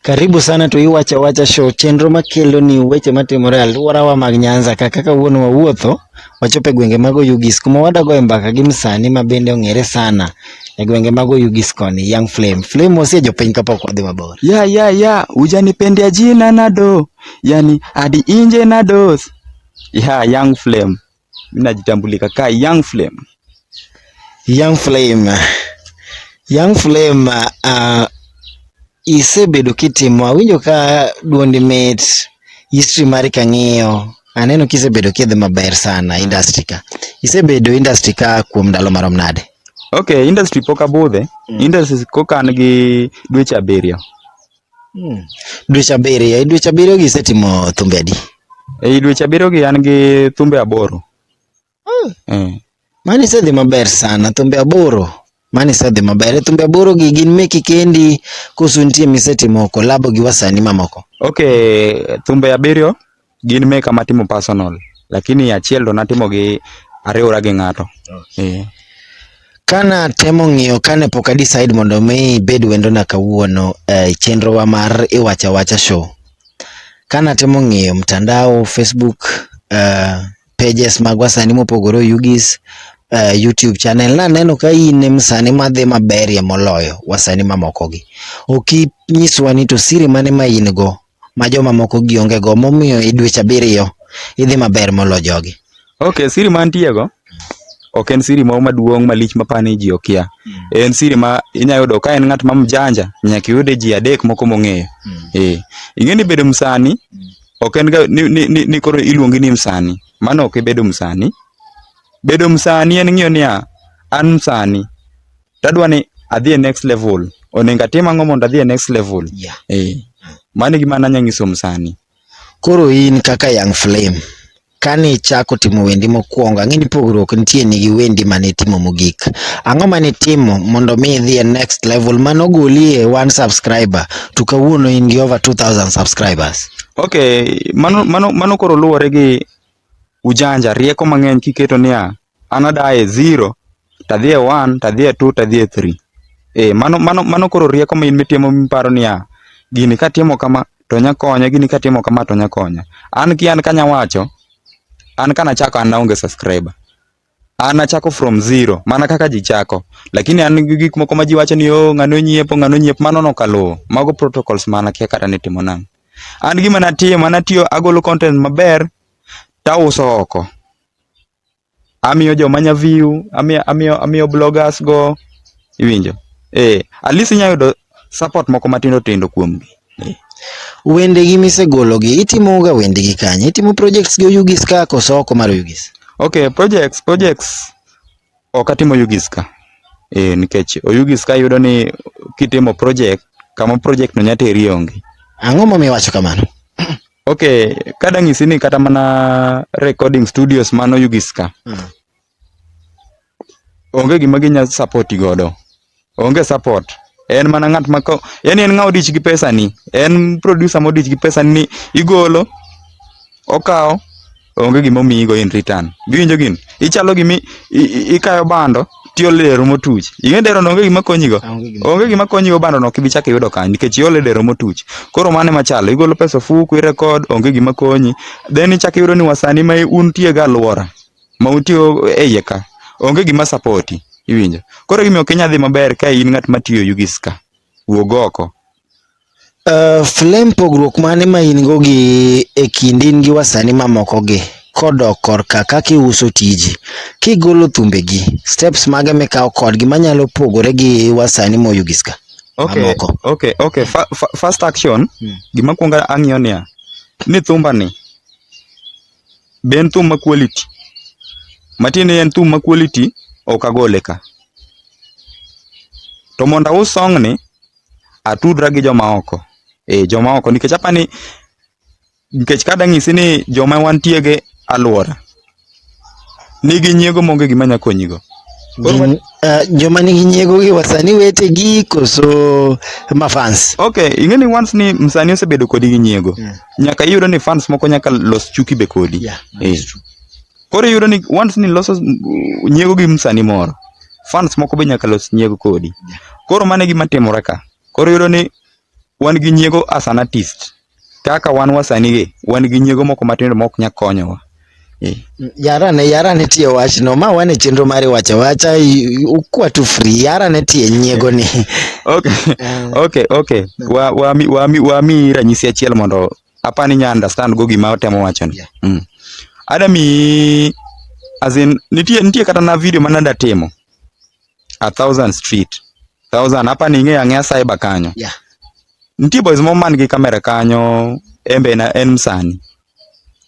Karibu sana to Iwacha Wacha Show, chenro makelo ni weche matimore e alworawa mag Nyanza ka kaka wuono wawuotho wachopo e gwenge mag Oyugis kuma wadagoe mbaka gi msani ma bende ong'ere sana e gwenge mag Oyugis koni, Young Flame. Flame osie jopiny kapok wadhi mabor. ya ya ya ujanipendea jina nado yani hadi inje nados ya young flame Mimi najitambulika ka Young Flame. Young Flame. Young Flame uh, isebedo kitimo awinjo ka duondi mit history mari kang'iyo aneno kisebedo kidhi maber sana industry ka. Isebedo industry ka kuom ndalo marom nade? Okay, industry pok abudhe. Mm. Industry kokan gi dweche abiriyo. Hmm. Dweche abiriyo, e dweche abiriyo gi isetimo thumbe adi? Ei dweche abiriyo gi an gi thumbe aboro. Hmm. Hmm. Mano isedhi maber sana, thumbe aboro. Mano isedhi maber. E thumbe aboro gi gin meki kendi koso nitie misetimo kolabo gi wasanii mamoko? Okay, thumbe abiriyo Gin meka matimo personal lakini achiel to natimo gi ariwora gi ng'ato. Okay. Eh. Kana temo ng'iyo kane pok a decide mondo mi bed wendo na kawuono e chenro wa mar iwacha wacha show. Kana temo ng'iyo mtandao Facebook uh, pages magwa sani mopogore oyugis uh, YouTube channel naneno ka in em sani madhi maberie moloyo wasani mamokogi. Ok inyiswa ni to siri mane ma in go ma jomamoko gi onge go momiyo e dweche abiriyo idhi maber molo jogi. Okay, siri mantie go ok en siri moro maduong' malich mapani ji okia. En siri ma inya yudo ka en ng'at ma mjanja nyaka iyude ji adek moko mong'eyo. Eh, ing'e ni bedo msani ok en ga ni, ni, ni, ni koro iluongi ni msani. Mano ok ibedo msani. Bedo msani en ng'iyo niya an msani tadwa ni adhi e next level onego atim ang'o mondo adhi e next level yeah. eh, mano e gima nanya nyisom sani koro in kaka young flame kane ichako timo wendi mokwongo ang'e ni pogruok nitie ni gi wendi mane itimo mogik ang'o mane itimo mondo mi idhi e next level mane ogoli e one subscriber to kawuono in gi over 2000 subscribers okay mano, mano, mano koro luwore gi ujanja rieko mang'eny kiketo niya Anadaye zero, tadhi e one, tadhi e two, tadhi e three. Eh, mano, mano, mano koro rieko ma in mitimo miparo niya, gini katimo kama to nya konya, gini katimo kama to nya konya. An ki an kanya wacho, an kana chako an naonge subscriber. An achako from zero, mana kaka ji chako. Lakini an gi gik moko ma ji wacho ni oh, ng'ano nyiepo, ng'ano nyiepo, mano no kaluwo. Mago protocols mana kia kata nitimo nang'. An gima natimo, anatiyo agolo content maber, tauso oko. amiyo joma nya view amiyo amiyo amiyo bloggers go iwinjo eh at least inya yudo support moko matindo tindo kuom gi Wende gi misegolo gi itimo ga wende gi kanye? Itimo projects gi Oyugis ka koso oko mar Oyugis? okay projects projects ok atimo Oyugis ka eh nikech Oyugis ka yudo ni kitimo project kama project no nya teri onge Ang'o momiyo iwacho kamano? Ok, kada ng'isi ni kata mana recording studios mano Ugis ka. Mm. Onge gima ginya support godo. Onge support. En mana ng'at ma ko, yani en ng'awo dich gi pesa ni. En producer mo dich gi pesa ni igolo, okawo, onge gima omiyigo in return. Giwinjo gini? Ichalo gimi ikayo bando tiole dero motuch. Ing'e dero no onge gima konyigo? Onge gima konyigo bando no kibi chako iyudo kanyo nikech iole dero motuch. Koro mano ema chalo, igolo pesa ofuku, irekod, onge gima konyi. Then ichako iyudo ni wasani ma untie ga alwora ma utiyo e iye ka, onge gima sapoti. Iwinjo? Koro gima ok inyal dhi maber ka in ng'at matiyo Ugis ka. Wuog oko. Uh, Flame pogruok mane ma in go gi e kind in gi wasani mamoko gi kodok korka kaka iuso tiji kigolo thumbe gi steps mage mikawo kodgi manyalo pogore gi wasani moyugis ka Okay, mamoko okay, okay. Fa, fa, first action Mm. gima kwongo ang'iyo niya ni thumba ni be en thum ma quality matiende en thum ma quality ok agole ka to mondo aus song ni atudra gi joma oko. Eh, joma oko nikech apa ni nikech kada ng'isi ni joma wantie gi alwora nigi nyiego monge gima nya konyigo. Gin, uh, joma nigi nyiego gi wasani wetegi koso mafans? Okay, ing'e ni once ni msanii osebedo kodi gi nyiego, Yeah. nyaka iyudo ni fans moko nyaka los chuki be kodi. Yeah, Eh. Koro iyudo ni once ni loso nyiego gi msani moro, fans moko be nyaka los nyiego kodi. Koro mano e gima timore ka. Koro iyudo ni wan gi nyiego as an artist. Kaka wan wasani gi, wan gi nyiego moko matindo mok nya konyowa. Eh. yarane yarane tie wachno ma wan e chenro mari wacha wacha i- ukwa tu free yarane tie nyiego ni Okay, okay, okay. Wa, wa, mi- wa, mi- wa mi ranyisi achiel mondo apani nya understand go gima otemo wacho ni yeah. mm. adami as in nitie nitie kata na video mana da timo a thousand street thousand hapa ni ng'eya ng'eya cyber kanyo yeah. nitie boys mo man gi kamera kanyo embe na en msani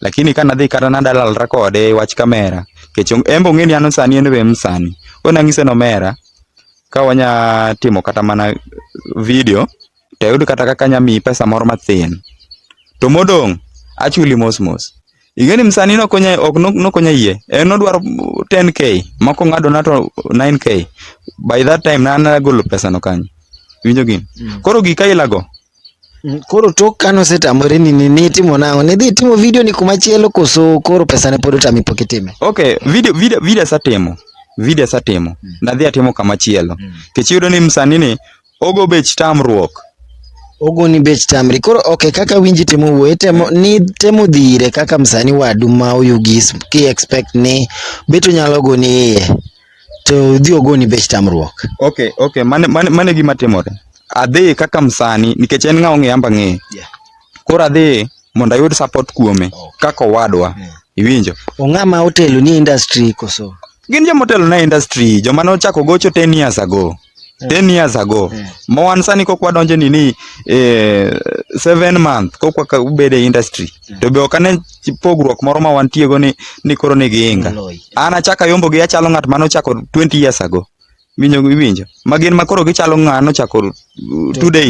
lakini kana dhi kata na dalal rekode wach kamera kech embe ong'e ni an msani en be msani ona ng'ise no mera ka wanya timo kata mana video to ayud kata kaka anya miyi pesa moro mathin. To modong' achuli mos mos. Ing'e ni msani ne ok onya ok no- ne ok onya yie. En nodwaro 10k, moko ng'ado na to 9k. By that time na nagolo pesa no kanyo. Iwinjo gini? Koro gika ilago. Mm, Koro tok kane osetamore ni ni nitimo nang'o? Nidhi itimo video ni kuma chielo koso koro pesa ne pod otami pok itime? Okay, video video video asatimo. Video asatimo. Nadhi atimo kama chielo. Kech iyudo ni msani ni Ogo bech tamruok. Ogo ni bech tamri. Koro okay, kaka winji temo wuoye temo ni temo dhire kaka msani wadu ma oyugis ki expect ni beto nyalo go ni iye. To dhi ogo ni bech tamruok. Okay, okay. Mane mane mane gima timore. Adhi kaka msani nikech en ng'awo ng'eyamba ng'eye. Yeah. Koro adhi mondo ayud support kuome kaka owadwa. Iwinjo? Ong'ama otelo ni industry koso. Gin joma otelo na industry, joma ne ochako gocho 10 years ago. 10 years ago. Ma wan sani kok wadonje ni ni eh, seven month kok waka- ubede e industry. To be ok ane pogruok moro ma wantiego ni ni koro ni giinga. Loi. An achaka yombo gi achalo ng'at mane ochako 20 years ago. Winjo iwinjo. Ma gin ma koro gichalo ng'ano chako uh, two days.